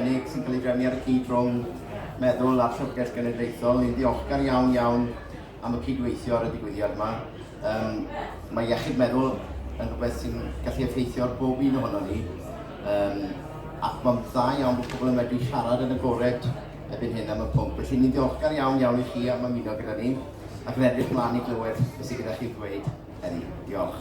Cynnig sy'n cael ei drefnu ar y cyd rhwng Meddwl a'r Llyfrgell Genedlaethol. Ni'n ddiolchgar iawn iawn am y cydweithio ar y digwyddiad yma. Um, mae iechyd meddwl yn rhywbeth sy'n gallu effeithio ar bob un ohono ni. Um, ac mae'n dda iawn bod pobl yn medru siarad yn y gored erbyn hyn am y pwnc. Felly ni'n ddiolchgar iawn iawn i chi am ymuno gyda ni ac yn edrych mlaen i glywed beth sydd gyda chi ddweud heddi. Diolch.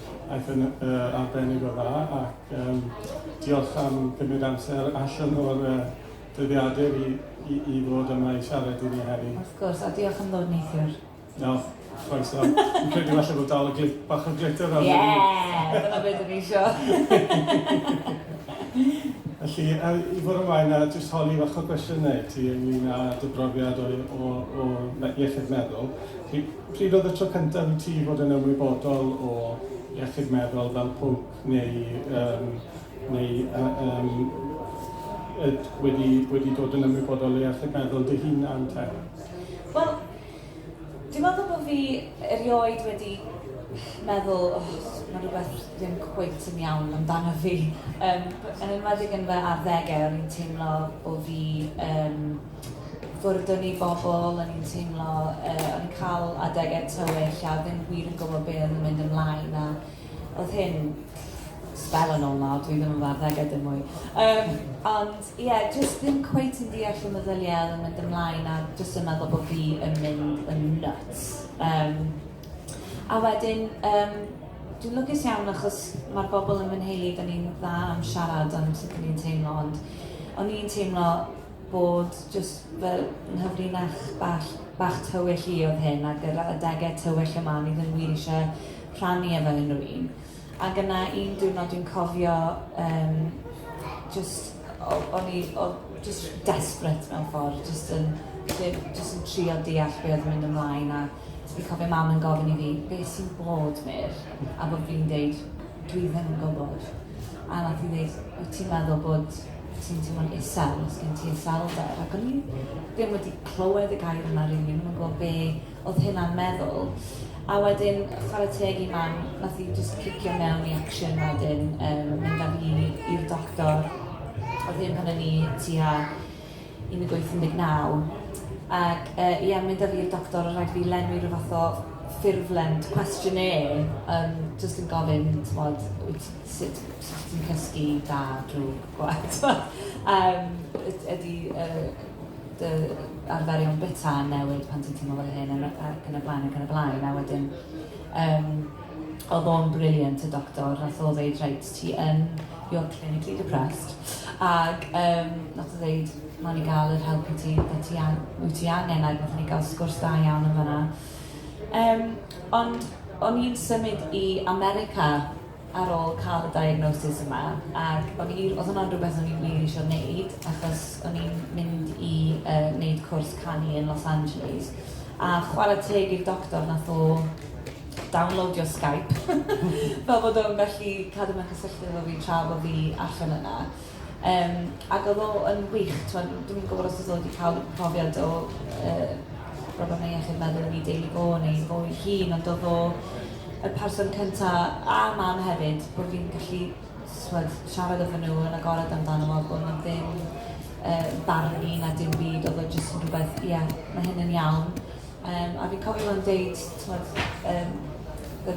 Aeth yn arbennig o dda ac yym diolch am gymryd amser allan o'r yy dyddiadur i i i ddod yma i siarad i ni heddi. Wrth gwrs, a diolch am ddod neithiwr. O, croeso. Fi'n credu falle bod dal y glit- bach o glitter arno fi. Yeah! Dyna be' 'dyn ni isio. Felly, a i fwrw ymlaen a jyst holi fach o gwestiyne i ti ynglyn â dy brofiad o o o me- iechyd meddwl. Chi Pryd oedd y tro cyntaf i ti fod yn ymwybodol o iechyd meddwl fel pwnc neu yym neu yy yym yy wedi wedi dod yn ymwybodol o iechyd meddwl dy hunan te? Wel, dwi'n meddwl bod fi erioed wedi meddwl, o, mae rhywbeth ddim cweit yn iawn amdano fi. Yym, yn enwedig yn fy arddegau, o'n i'n teimlo bo' fi yn... Gwrddwn i bobl, o'n i'n teimlo yy o'n i'n cael adegau tywyll a ddim wir yn gwybod be oedd yn mynd ymlaen a oedd hyn sbel yn ôl nawr, dwi ddim yn fy arddegau dim mwy. Um, ond ie, yeah, jyst ddim cweit yn deall y meddyliau oedd yn mynd ymlaen a jyst yn meddwl bod fi yn mynd yn nuts. Um, a wedyn, um, dwi'n lwcus iawn achos mae'r bobl yn fy nheulu, da ni'n dda am siarad am sut ni'n teimlo, ond o'n i'n teimlo bod jyst fy nghyfrinach bach bach tywyll i oedd hyn ac yr adegau tywyll yma o'n i ddim wir eisiau rhannu efo unrhyw un. Ac yna un diwrnod dwi'n cofio um, just, o'n i o, just desperate mewn ffordd, just yn, just yn trio deall beth oedd yn mynd ymlaen a Dwi cofio mam yn gofyn i fi be sy'n bod Meir a bod fi'n deud dwi ddim yn gwybod a nath hi ddeud wyt ti'n meddwl bod ti'n teimlo'n isel, os gen ti iselder ac o'n i ddim wedi clywed y gair yna rili, ddim yn gwybod be oedd hynna'n meddwl a wedyn chwarae teg i mam nath hi just cicio mewn i action wedyn um, mynd â fi i'r doctor oedd hyn pan o'n i tua 18 yn deg-naw. Ac yy ie mynd a fi i'r doctor o' rhaid fi lenwi rhyw fath o ffurflen questionnaire yym jyst yn gofyn t'mod wyt sut sut ti'n cysgu da drwg gwag t'mod yym yd- ydi yy dy arferion byta yn newid pan ti'n teimlo fel hyn a ma' ac yn y blaen ac yn y blaen a wedyn yym o'dd o'n brilliant y doctor nath o ddeud reit ti yn you're clinically depressed ac yym nath o ddeud nawn ni gael yr help i ti be' ti an- wyt ti angen ag nathon ni gael sgwrs da iawn yn fanna. Yym ond o'n i'n symud i America ar ôl cael y diagnosis yma ac o'n i oedd hwnna'n rhywbeth o'n i wir eisiau wneud achos o'n i'n mynd i yy wneud cwrs canu yn Los Angeles a chwarae teg i'r doctor nath o downloadio Skype fel bod o'n gallu cadw mewn cysylltiad efo fi tra bo' fi allan yna. Yym ac o'dd o yn wych t'mod n- dwi'm yn gwbod os o's o 'di ca'l profiad o yy problemau iechyd meddwl yn 'i deulu fo neu fo'i hun ond o'dd o y person cynta a mam hefyd bo' fi'n gallu t'mod siarad efo nw yn agored amdano fo a bo' nw ddim yy barnu na dim byd o'dd o jyst yn rwbeth ie ma' hyn yn iawn. Um, a fi'n cofio fo'n deud, tmod, um, the,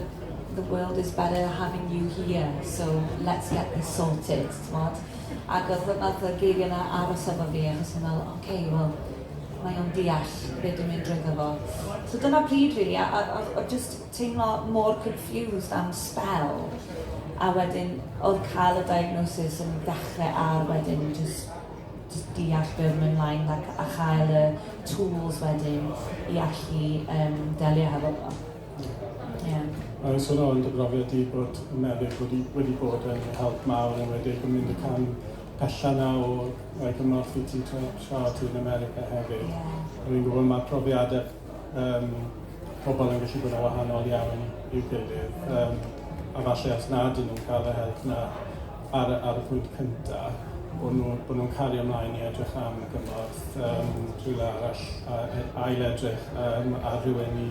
the world is better having you here, so let's get this sorted, tmod. Ac oedd hwnna, oedd y geiriau yna aros efo fi, achos o'n meddwl, oce, okay, wel, mae o'n deall beth dwi'n mynd drwy fo. So dyna pryd fi, really, a, a, a just teimlo mor confused am spell, a wedyn oedd cael y diagnosis yn ddechrau ar wedyn just jyst deall be oedd yn mynd mlaen ac a chael y tools wedyn i allu um, delio hefo fo. Yeah. Mae'n sôn o'n dy brofiad di bod y meddyg wedi, wedi bod yn help mawr yn wedi yn mynd y can pella na o roi cymorth i ti tra, tra ti yn America hefyd. Yeah. Rwy'n gwybod mae profiadau Um, pobl yn gallu bod yn wahanol iawn i'w gilydd, um, a falle os nad ydyn nhw'n cael y help na ar, ar y pwynt cyntaf, bod nhw'n nhw, nhw cario ymlaen i edrych am y gymorth um, rhywle arall, a, e, ail edrych um, ar rhywun i,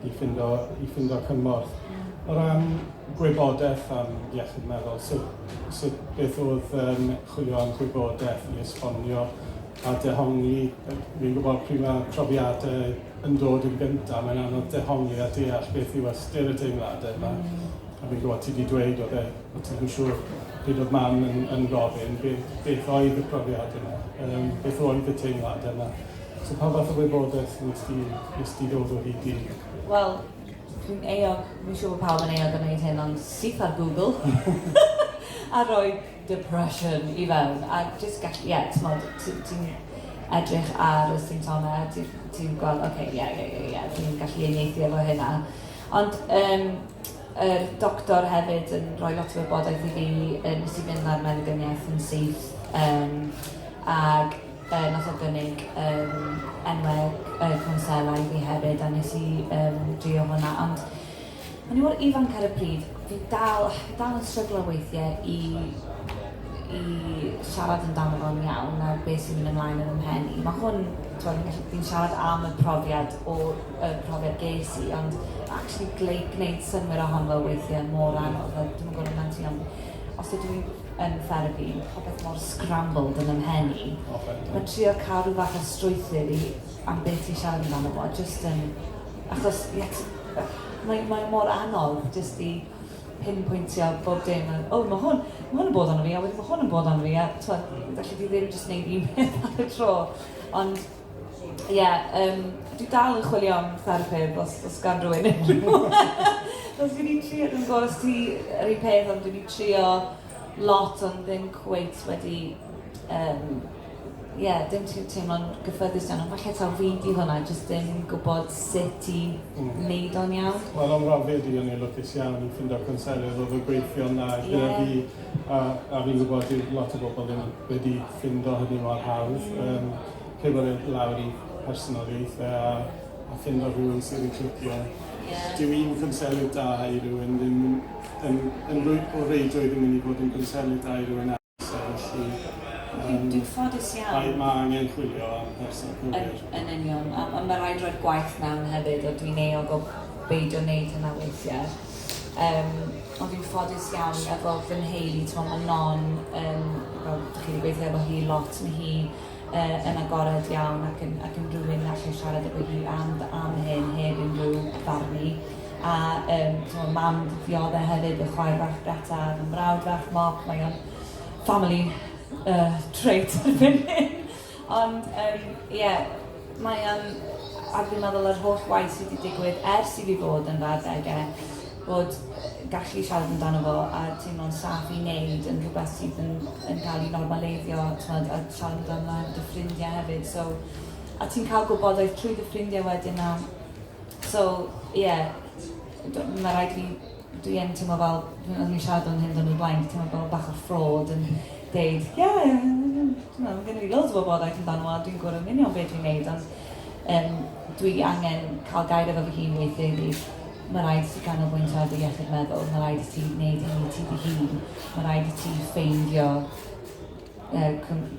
i, ffindo, i ffindo cymorth. O ran gwybodaeth am iechyd meddwl, sut, sut beth oedd um, chwilio am gwybodaeth i esbonio a dehongli. Fi'n gwybod pryd mae profiadau yn dod yn gyntaf, mae'n anodd dehongli a deall beth yw ystyr y teimladau yma. A fi'n gwybod ti 'di dweud oedd e, o ti'm yn siŵr pryd oedd Mam yn yn gofyn beth beth oedd y profiad yma, yym beth oedd y teimladau yma. So pa fath o wybodaeth wnest ti wnest ti ddod o hyd i? Wel, dwi'n euog, fi'n siŵr bod pawb yn euog o wneud hyn, ond syth ar Google a rhoi depression i fewn a jyst gallu, ie, timod, ti ti'n edrych ar y symptomau a ti ti'n gweld, ocê, ie, ie, ie, ie, dwi'n gallu uniaethu efo hynna. Ond um, yr doctor hefyd yn rhoi lot o wybodaeth i fi, um, nes i fynd ar meddyginiaeth yn syth, um, ac uh, nath o gynnig um, enwau uh, cwnsela i fi hefyd, a nes i um, drio hwnna. Ond O'n i mor ifanc ar y pryd, fi dal, fi dal yn stryglo weithie i i siarad amdano fo'n iawn a be' sy'n mynd ymlaen yn 'y mhen i. Ma' hwn, t'mod fi'n gallu fi'n siarad am y profiad o y profiad ges i ond ma' actually gleu- gneud synnwyr ohon fo weithie mor anodd a dwi'm yn gwbo amdano ti ond os ydw i'n yn therapi ma' popeth mor scrambled yn 'y mhen i. Oce. Ma' trio ca'l rhyw fath o strwythur i am be' ti siarad amdano fo jyst yn achos ie t- Mae, mae mor anodd jyst i pinpointio bob dim. A, o, mae hwn, mae hwn yn bod ond fi, a wedyn mae hwn yn bod ond fi. A twod, felly fi ddim jyst wneud un peth ar y tro. Ond, ie, yeah, um, dwi dal yn chwilio am therapydd os, os gan rwy'n unrhyw. os fi wedi trio, dwi'n gwybod os ti yr un peth, ond dwi wedi trio lot ond ddim cweit wedi um, Ie, dim trio teimlo'n gyffyrddus iawn, ond falle taw fi 'di hwnna, jyst dim gwybod sut i wneud o'n iawn. Wel, am ran fi, o'n i'n lwcus iawn i ffindo cwnselydd oedd yn gweithio'n dda gyda fi, a, a fi'n gwybod dyw lot o bobl ddim wedi ffindo hynny mor hawdd, um, pigo fe lawr i personoliaeth fe a, a ffindo rhywun sydd yn clicio. Yeah. Dyw un cwnselydd da i rywun ddim yn, yn, yn, yn o reidrwydd yn mynd i fod yn gwnselydd da i rywun arall. Felly, yym... Dwi'n ffodus iawn. Mae mae angen chwilio am person cywir. Yn yn union. A a ma' raid roi'r gwaith mewn hefyd a dwi'n euog o beidio neud hynna weithie. Yym ond dwi'n ffodus iawn efo fy nheulu t'mo' ma' Non yn fel dych chi 'di gweithio efo hi lot ma' hi uh, yn agored iawn ac yn, ac yn rhywun na allai siarad efo hi am, am hyn heb unrhyw barnu. A um, so, mam ddiodde hefyd, y chwaer fach Greta, y mrawd fach Mop, mae o'n family uh, trait erbyn hyn. Ond, um, yeah, mae o'n, a dwi'n meddwl yr holl waith sydd wedi digwydd ers i fi fod yn fawr degau, bod gallu siarad amdano fo a teimlo'n saff i wneud yn rhywbeth sydd yn yn cael ei normaleiddio t'mod a siarad amdano dy ffrindiau hefyd so a ti'n cael gwybodaeth trwy dy ffrindiau wedyn a so ie yeah, mae rhaid fi dwi yn teimlo fel pan o'n i'n siarad am hyn dyn nhw'n blaen teimlo fel bach o ffrod yn deud ie yeah, no, mae gen i loads o wybodaeth amdano a dwi'n gwybod yn union beth dwi'n neud ond um, dwi angen cael gair efo fy hun weithiau i Mae rhaid i ti ganolbwyntio ar dy iechyd meddwl, mae rhaid i ti wneud hyn i ti dy hun, mae rhaid i ti ffeindio uh,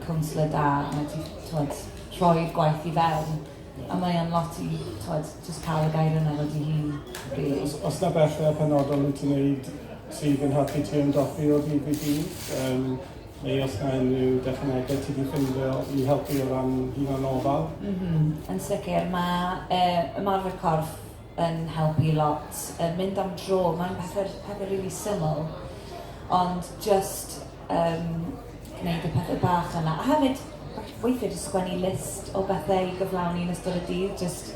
cwnsler da, mae ti twod, rhoi'r gwaith i fewn. A mae o'n lot i twod, just cael y gair yna fod i hun. Really. Os, os na bethau penodol i ti'n neud sydd yn helpu ti ymdopi o ddydd i ddydd, um, neu os na unrhyw dechnegau ti wedi ffindio i helpu o ran hunan ofal? Mm -hmm. Yn sicr, mae uh, ymarfer corff yn helpu lot, yy mynd am dro, mae'n pethe pethe rili syml, ond jyst yym gwneud y pethe bach yna. A hefyd, weithiau jyst sgwennu list o bethau i gyflawni yn ystod y dydd, jyst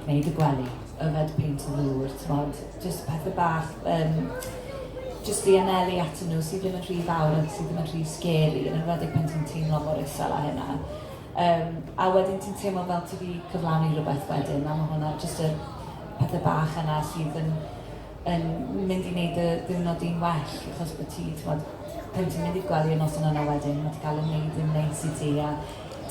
gwneud y gwely, yfed peint o ddŵr, timod, jyst pethe bach yym jyst i anelu atyn nhw sydd ddim yn rhy fawr a sydd ddim yn rhy scary, yn enwedig pan ti'n teimlo mor isel â hynna. Yym, a wedyn ti'n teimlo fel ti 'di cyflawni rhywbeth wedyn, a ma' hwnna jyst y pethe bach yna sydd yn yn mynd i wneud dy ddiwrnod di'n well, achos bod ti, timod, pan ti'n mynd i'r gwely y noson yna wedyn, ma' 'di cael ei wneud yn neis i ti, a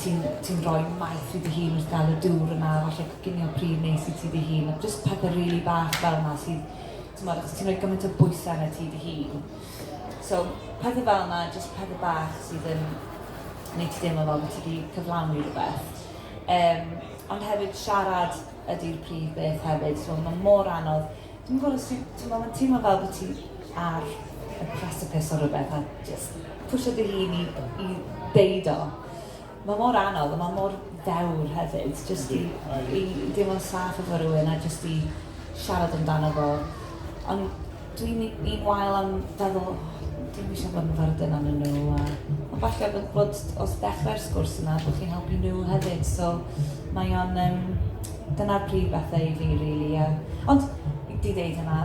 ti'n ti'n rhoi maeth i dy hun wrth gael y dŵr yna, a falle coginio pridd neis i ti dy hun, a jyst pethe rili bach fel 'na sydd Timod, os ti'n rhoi gymaint o bwysau arna ti dy hun. So, pethau fel yna, jyst pethau bach sydd yn gwneud ti deimlo fel bod ti wedi cyflawni rhywbeth. Um, ond hefyd siarad ydy'r prif beth hefyd, so mae mor anodd. Dwi'n gwybod os ti'n meddwl, mae'n teimlo fel bod ti ar y precipice o rhywbeth a just pwysio dy hun i, i deud o. Mae mor anodd a mae mor ddewr hefyd jyst i i deimlo'n saff efo rhywun a jyst i siarad amdano fo. Ond dwi'n un wael am feddwl "O, dwi'm eisiau bod yn fyrddin arnyn nhw" a... Ond falle bod bod os dechrau'r sgwrs yna bod chi'n helpu nhw hefyd. So mae o'n yym... dyna'r prif bethau i fi rili a... Ond i ddeud hynna...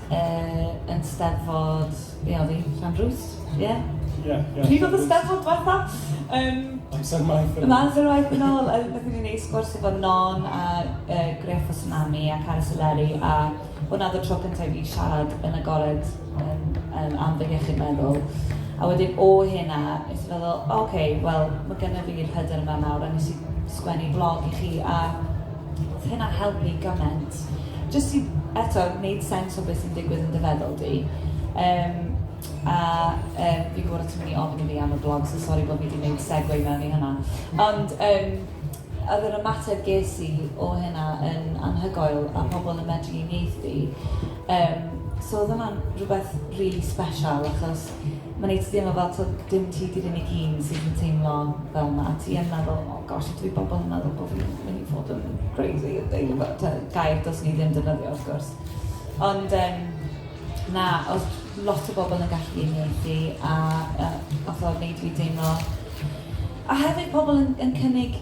yn steddfod, be oedd hi, Llanrwst? Ie? Ie. Pryd oedd y steddfod diwetha? Um, Amser maith yn ôl. Amser maith yn ôl. Nath ni wneud sgwrs efo Non a uh, Griff o Tsunami a Cara Soleri a hwnna oedd y tro cyntaf i fi siarad yn agored um, um, am fy iechyd meddwl. A wedyn o hynna, nes i feddwl, oce, okay, wel, mae gennym fi'r hyder yma nawr, a nes i sgwennu blog i chi, a Oedd hynna'n helpu gymaint. Jyst i, eto, wneud sens o beth sy'n digwydd yn dy feddwl di. Um, a um, fi'n gwybod o ti'n mynd i ofyn i fi am y blog, so sori bod fi wedi gwneud segway mewn i hynna. Ond um, oedd yr ymateb ges i o hynna yn anhygoel a pobl yn medru uniaethu. Um, so oedd hwnna'n rhywbeth really special achos Mae'n wneud ti deimlo fel tibod dim ti 'di'r unig un sydd yn teimlo fel 'na. Ti yn meddwl "o gosh ydw i bobl yn meddwl bod fi'n mynd i fod yn crazy" yn deud rywbeth. Tibod gair dylsen ni ddim defnyddio wrth gwrs. Ond yym na oedd lot o bobl yn gallu uniaethu a yy wnaeth o wneud i fi deimlo... a hefyd pobl yn yn cynnig...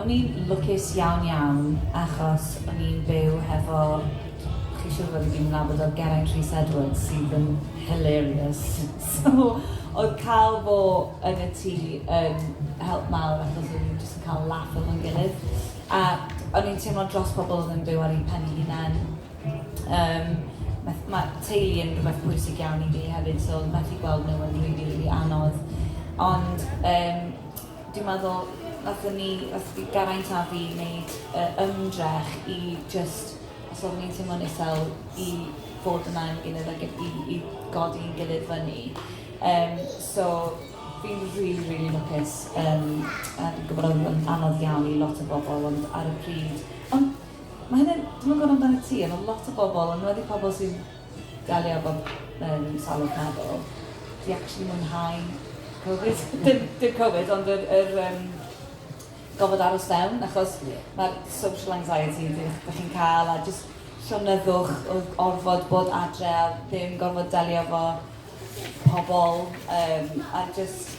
O'n i'n lwcus iawn iawn achos o'n i'n byw hefo, chi'n siŵr fod i gyd yn nabod o, Geraint Rhys Edwards sydd yn hilarious. So oedd cael fo yn y tŷ yn help mawr achos o'n ni'n jyst yn cael laff efo'n gilydd. A o'n i'n teimlo dros pobl oedd yn byw ar eu pen eu hunain. Um, mae teulu yn rhywbeth pwysig iawn i fi hefyd, so methu gweld nhw yn rili, rili anodd. Ond um, Dwi'n meddwl wnaethon ni, wnaeth Geraint a fi wneud y ymdrech i jyst, os oeddwn ni'n teimlo'n isel, i fod yna am ein gilydd ac i i i godi ein gilydd fyny. Yym so fi'n rili rili lwcus yym a dwi'n gwybod oedd o'n anodd iawn i lot o bobl ond ar y pryd... Ond ma' hynna'n... dwi'm yn gwybod amdanat ti ond ma' lot o bobl, yn enwedig pobl sydd Delio efo yym salwch meddwl. Fi actually mwynhau Covid. Dim dim Covid ond yr yr yym gorfod aros fewn achos mae'r social anxiety dych dych chi'n cael a jyst llonyddwch o orfod bod adre a ddim gorfod delio efo pobl yym a jyst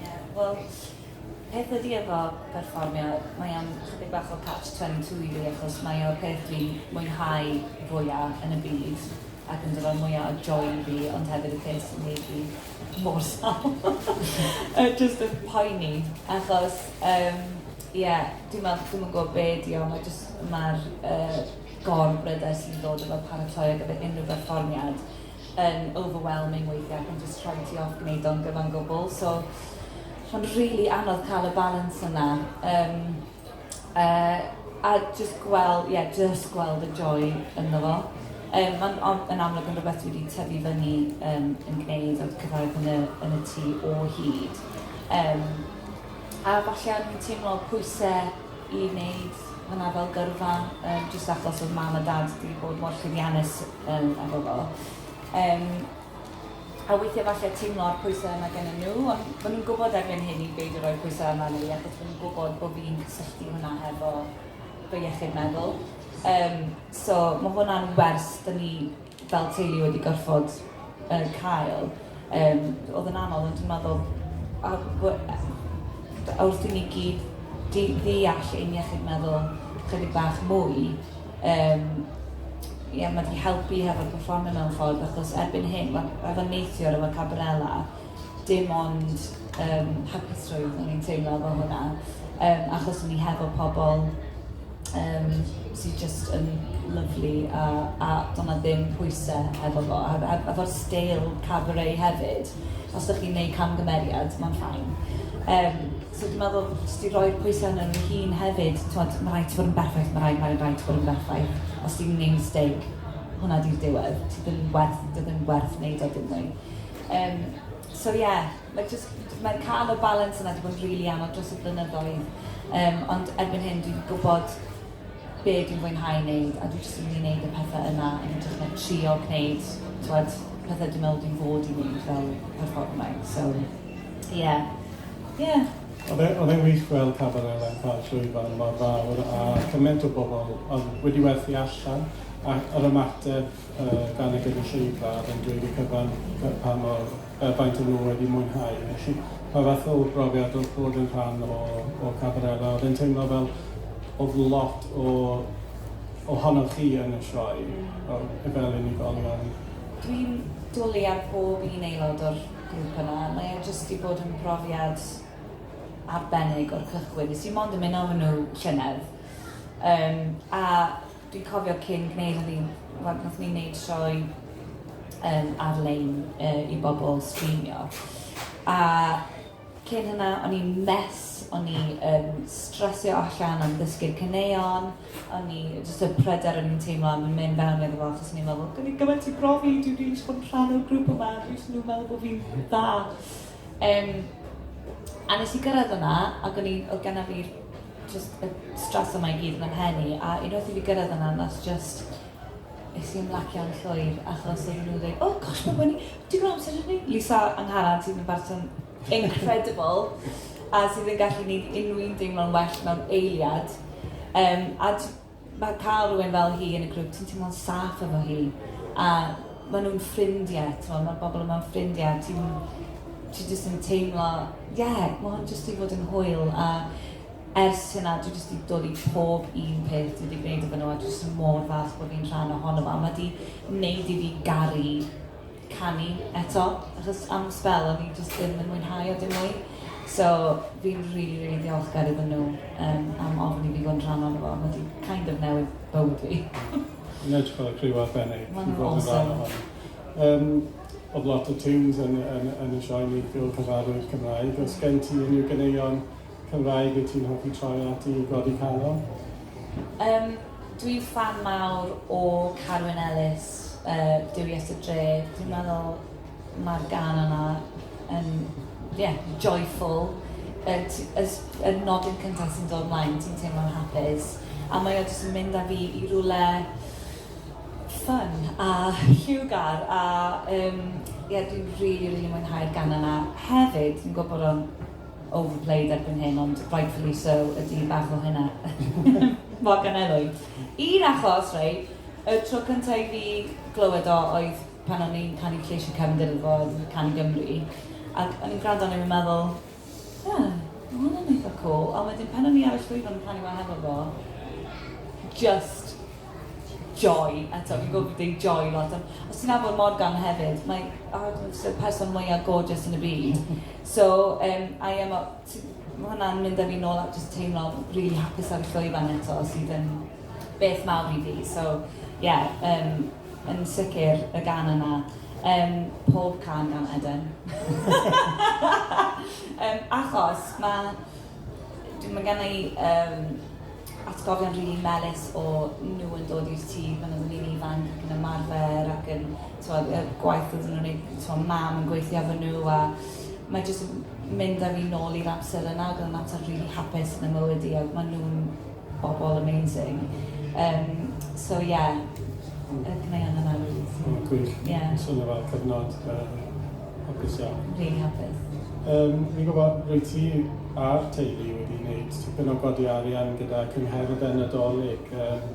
Ie, wel, peth ydy efo perfformio, mae o'n chydig bach o catch 22 i fi achos mae o'r peth dwi'n mwynhau fwya yn y byd ac yn dod â'r mwya o joy i fi ond hefyd y peth sy'n neud fi mor sâl yy jyst yn poeni achos yym ie dwi'n me'wl dwi'm yn gwbo be' 'di o ma' jyst ma'r yy gor bryder sy'n dod efo paratoi ar gyfer unryw berfformiad yn overwhelming weithiau ac yn jyst rhoi ti off gwneud o'n gyfan gwbl. So, rhan really anodd cael y balance yna. Um, uh, a jyst gweld, ie, yeah, jyst gweld y joy ynddo fo. Um, Mae'n yn amlwg yn rhywbeth wedi tyfu fyny um, yn gwneud o'r cyfraith yn y, yn y tu o hyd. Um, a falle o'n i'n teimlo pwysau i wneud hwnna fel gyrfa, um, jyst achos oedd mam a dad wedi bod mor llwyddiannus Yym a bobl. Yym a weithie falle teimlo'r pwyse yna gennyn nhw ond ma' nhw'n gwbod erbyn hyn i beidio roi pwyse arna ni achos ma' nhw'n gwbod bo' fi'n cysylltu hwnna hefo fy iechyd meddwl. Yym so ma' hwnna'n wers 'da ni fel teulu wedi gorffod yy cael. Yym, oedd yn anodd, ond dwi'n meddwl, a we- a wrth i ni gyd di- ddeall ein iechyd meddwl chydig bach mwy, yym, ie, mae 'di helpu hefo'r perfformio mewn ffordd, achos erbyn hyn, wel, efo neithiwr, efo Cabarella, dim ond yym hapusrwydd o'n i'n teimlo efo hwnna, yym, achos o'n i hefo pobl, um, sydd just yn lyflu a, a do'n na ddim pwysau efo fo, a, a, a fo'r stael cabaret hefyd, os ydych chi'n gwneud camgymeriad, mae'n ffain. Um, so dwi'n meddwl, os ti'n rhoi'r pwysau yn yr hun hefyd, twod, mae rhaid ti fod yn berffaith, mae rhaid, mae rhaid ti fod yn berffaith. Os ti'n gwneud mistake, hwnna di'r diwedd. Ti ddim werth, dy ddim werth wneud o dim mwy. Um, so ie, yeah, Mae jyst, mae cael y balans yna 'di bod yn rili anodd dros y blynyddoedd yym ond erbyn hyn dwi 'di gwybod be dwi'n fwynhau wneud a dwi jyst yn mynd i wneud y pethau yna yn hytrach na trio gwneud t'wod pethau dwi'n meddwl dwi'n fod i wneud fel perfformer so ie ie. Oedd e, oedd e'n wych gweld Cabaret Lan Pâl llwyfan mor fawr a chymaint o bobl oedd wedi werthu allan a yr ymateb yy gan y gynulleidfa oedd yn dweud y cyfan pa mor yy faint o nhw wedi mwynhau, felly pa fath o brofiad oedd bod yn rhan o o Cabarella? Oedd e'n teimlo fel oedd lot o ohonoch chi yn y sioe o- fel unigolion? Dwi'n dwli ar bob un aelod o'r grŵp yna, mae e jyst 'di bod yn brofiad arbennig o'r cychwyn. Nes i mond ymuno â nhw llynedd, yym a Dwi'n cofio cyn gwneud hynny, wel, wnaethon ni wneud sioe um, ar-lein uh, i bobl streamio. A cyn hynna, o'n i'n mes, o'n i um, stresio allan am ddysgu'r cyneuon, o'n i jyst y pryder o'n i'n teimlo am mynd fewn iddo fo, achos o'n i'n meddwl, gynnu gymaint i brofi, dwi'n rili eisiau bod yn rhan o'r grŵp yma, dwi'n meddwl bod fi'n dda. Um, a nes i gyrraedd yna, ac o'n i, oedd genna fi just y stres yma i gyd yn ymhen i, a unwaith i fi gyrraedd yna, nas just es i ymlacio'n llwyr, achos oedd nhw'n dweud, oh gosh, mae'n bwyn i, ti'n gwneud amser ni? Lisa Angharan sydd yn bartun incredible, a sydd yn gallu gwneud unrhyw un deimlo'n well mewn eiliad. Um, a Mae cael rhywun fel hi yn y grŵp, ti'n teimlo'n saff efo hi, a maen nhw'n ffrindiau, tibod, mae'r bobl yma'n ffrindiau, ti'n... ti jyst yn teimlo, ie, mae hwn jyst 'di fod yn hwyl, a ers hynna dwi jyst 'di dod i pob un peth dwi 'di gwneud efo nhw, a dwi jyst mor falch bod fi'n rhan ohono fo, a mae 'di wneud i fi garu... canu eto achos am sbel o'n i jyst ddim yn mwynhau o dim mwy. So fi'n rili, really, really ddiolchgar iddyn nhw um, am ofyn i fi fod yn rhan o'n fo. Mae wedi kind of newid bywyd fi. Yn edrych ar y criw arbennig. Mae'n awesome. Um, oedd lot o tunes yn, yn, yn y sioe ni fel cyfarwydd Cymraeg. Os gen ti unrhyw gyneuon Cymraeg wyt ti'n hoffi troi ati i godi calon? Yym, dwi'n ffan mawr o Carwyn Ellis, yy, Duwies y Dre. Dwi'n meddwl mae'r gân yna yn, ie, joyful. Yy, ti- y s- y nodyn cynta sy'n dod 'mlaen, ti'n teimlo'n hapus. A mae o jyst yn mynd â fi i rywle ffyn a lliwgar a yym, ie, dwi'n rili, rili mwynhau'r gân yna. Hefyd, dwi'n gwybod bod o'n overplayed erbyn hyn, ond rightfully so, ydy bach o hynna. Morgan Elwy. Un achos, rei, y tro cyntaf i fi glywed o oedd pan o'n i'n canu lleisiau Cefn Dyrfod, Canu Gymru, ac o'n i'n gwrando o'n i'n meddwl, yeah, mae hwnna'n eitha cool, ond wedyn pan o'n i ar y llwyfan yn canu wa hefo fo, just Joy, eto fi'n gwybod fi'n deud joy lot ond os ti'n nabod Morgan hefyd mae oh dwi'n jyst y person mwya gorgeous yn y byd so yym I am a t- ma' hwnna'n mynd â fi nôl at jyst teimlo rili hapus ar y llwyfan eto sydd yn beth mawr i fi so ie yym yn sicr y gan yna yym pob can gan Eden yym achos ma' dwi ma' genna i yym atgofion rili melys o nhw yn dod i'r tŷ pan oedden ni'n ifanc ac yn ymarfer ac yn t'mod y gwaith oedden nhw'n neud t'mo' mam yn gweithio efo nhw a mae jyst yn mynd â fi nôl i'r amser yna ag o'dd mater rili hapus yn 'y mywyd i ag ma' nhw'n bobol amazing. Yym so ie yy gwnâi anfon nawr. O gwych. Ie. Swnio fel cyfnod da. Hapus iawn. Rili hapus. Yym, fi'n gwybod rwyt ti a'r teulu wedi gwneud tipyn o godi arian gyda Cyngherdd y Nadolig, yym,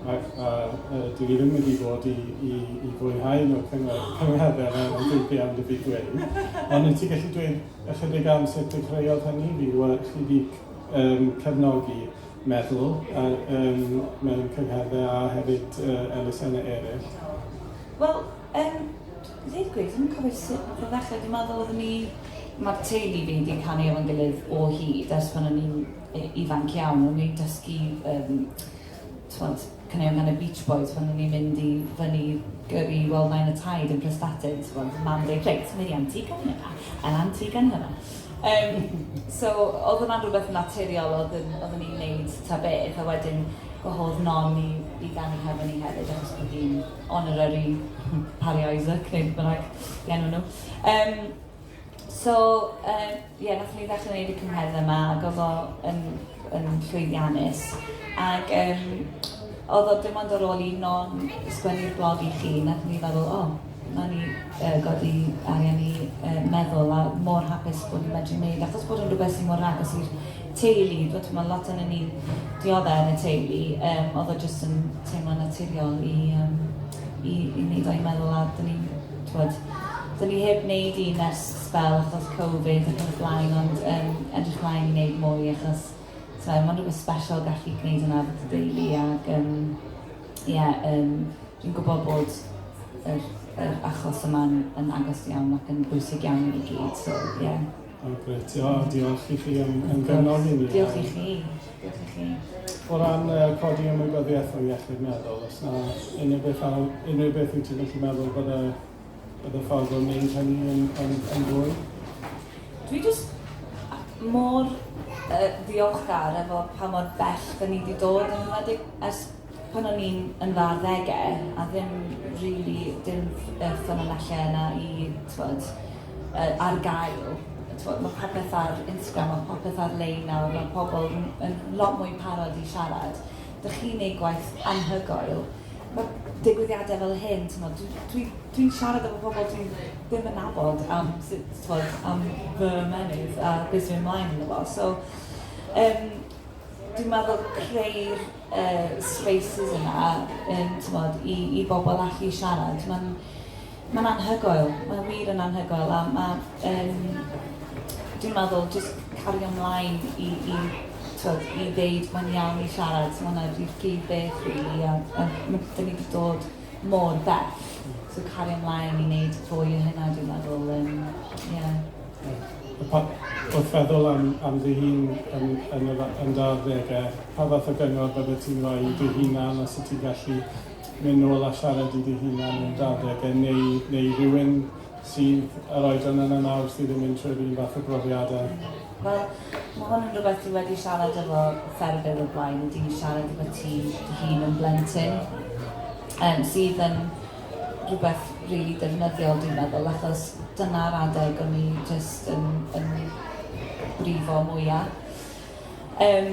a, a, a dwi ddim wedi bod i, i, i fwynhau nhw cyngor, cyngherdd er enw dwi'n fi am dy fi dweud. Ond wyt ti gallu dweud ychydig am sut dechreuodd hynny? Fi wedi chi wedi um, cefnogi meddwl a, um, mewn cyngherddau a hefyd uh, elusennau eraill. Wel, um, I ddeud y gwir, dwi'm yn cofio sut nath o ddechre, dwi'n meddwl oedden ni... Ma'r teulu fi 'di canu efo'n gilydd o hyd ers pan o'n i'n yy ifanc iawn, o'n i'n dysgu yym t'mod caneuon gan y Beach Boys pan o'n i'n mynd i fyny gyrru i weld Nain a Taid yn Prestatyn t'mod o'dd mam yn deud reit mynd i Antigua ni nawr yn Antigua ni nawr. Yym so o'dd hwnna'n rwbeth naturiol o'dd yn oedden ni'n neud ta beth a wedyn gwahodd Non i i ganu hefo ni hefyd achos bod hi'n Honorary Parry Isaac, neu beth bynnag i enw nhw. Um, so, uh, yeah, nath ni ddechrau gwneud y cymheddau yma, ac oedd o yn, yn llwyddiannus. Ac um, oedd o dim ond ar ôl i non sgwennu'r blog i chi, nath ni feddwl, o, oh, Mae'n i uh, godi arian i uh, meddwl a mor hapus bod ni'n medru wneud, achos bod yn rhywbeth sy'n mor agos i'r teulu fod t'mo lot onyn ni diodde yn y teulu yym odd o jyst yn teimlo'n naturiol i yym i i ni ddau meddwl a dyn ni'n t'wod dyn ni heb neud un ers sbel achos covid ac yn y blaen ond yym edrych mlaen i neud mwy achos t'mo ma'n rwbeth sbeshal gallu gneud hwnna efo dy deulu ag yym ie yym dwi'n gwbo bod yr yr achos yma'n yn agos iawn ac yn bwysig iawn i ni gyd so ie. O grêt, o diolch i chi am, am gynnodd i ni. Diolch i chi, diolch i chi. O ran uh, codi ymwybyddiaeth o iechyd meddwl, os na unrhyw beth, unrhyw beth wyt ti'n gallu meddwl bod y, bod y ffordd o'n neud hynny yn, yn, yn fwy? Dwi jyst mor uh, ddiolchgar efo pa mor bell da ni wedi dod yn ymwedig ers pan o'n i'n yn dda ddegau a ddim really dim uh, ffynonellau yna i, twod, yy ar gael yy t'mod ma' popeth ar Instagram ma' popeth ar lein nawr ma' pobol yn yn lot mwy parod i siarad dych chi'n neud gwaith anhygoel ma' digwyddiade fel hyn t'mod dwi dwi dwi'n siarad efo pobol dwi'n ddim yn nabod am sut t'mod am fy ymennydd a be' sy myn' mlaen yn y fo so yym dwi'n meddwl creu'r yy spaces yna yn t'mod i i bobol allu siarad ma'n Mae'n anhygoel, mae'n wir yn anhygoel a mae ehm dwi'n meddwl jyst cario mlaen i i tibod i ddeud mae'n iawn i siarad, ma' hwnna 'di'r prif beth rili a a ma' 'da ni 'di dod mor bell, so cario mlaen i wneud fwy o hynna dwi'n meddwl yym ie. Ie. Pa... wrth feddwl am am dy hun yn yn y yn dy arddegau, pa fath o gyngor byddet ti'n rhoi i dy hunan os wyt ti'n gallu? mynd nôl a siarad i dy hunan yn dy adeg e neu neu rhywun sydd yr oedran yna nawr sydd yn mynd trwy'r un fath o brofiad a Wel, mae hwn yn rhywbeth dwi wedi siarad efo ffermydd o'r blaen, wedi siarad efo ti dy hun yn blentyn, um, sydd yn rhywbeth rili really defnyddiol dwi'n meddwl, achos dyna'r adeg o'n i jyst yn, yn brifo mwyaf. Um,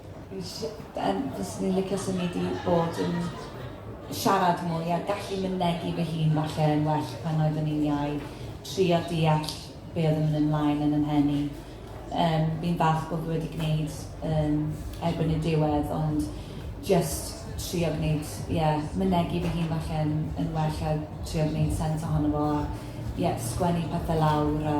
Yym fyswn i'n licio symud i bod yn siarad mwy a gallu mynegi fy hun falle yn well pan oeddwn i'n iau, trio deall be oedd yn mynd ymlaen yn 'y mhen i. Yym fi'n falch bod fi wedi gwneud yym erbyn y diwedd ond jyst trio gwneud ie mynegi fy hun falle yn yn well a trio gwneud sens ohono fo a ie sgwennu pethe lawr a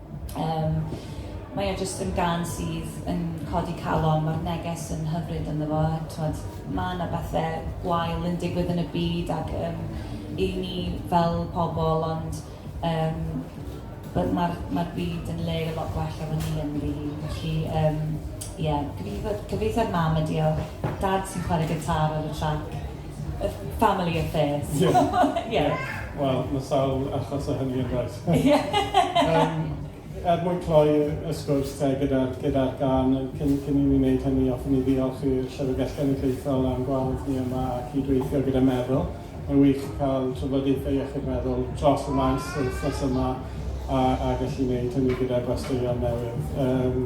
Yym, mae o jyst yn gân sydd yn codi calon, mae'r neges yn hyfryd ynddo fo, a timod, mae 'na bethe gwael yn digwydd yn y byd ac yym 'y ni fel pobl, ond yym wel ma'r ma'r byd yn le lot gwell efo ni ynddi hi, felly yym ie, gobeithio gobeithio'r mam yn diolch, dad sy'n chwarae gitâr ar y trac. A family affair. Yes. Yeah. Wel, mae sawl achos o hynny yn does? Er mwyn cloi y sgwrs te gyda'r gyda'r gân, cyn cyn i ni wneud hynny, hoffwn i ddiolch i'r Llyfrgell Genedlaethol am gwahodd ni yma a cyd-weithio gyda Meddwl. Mae'n wych cael trafodaethau iechyd meddwl dros y maes yr wythnos yma a a gallu wneud hynny gyda gwesteion newydd. Yym.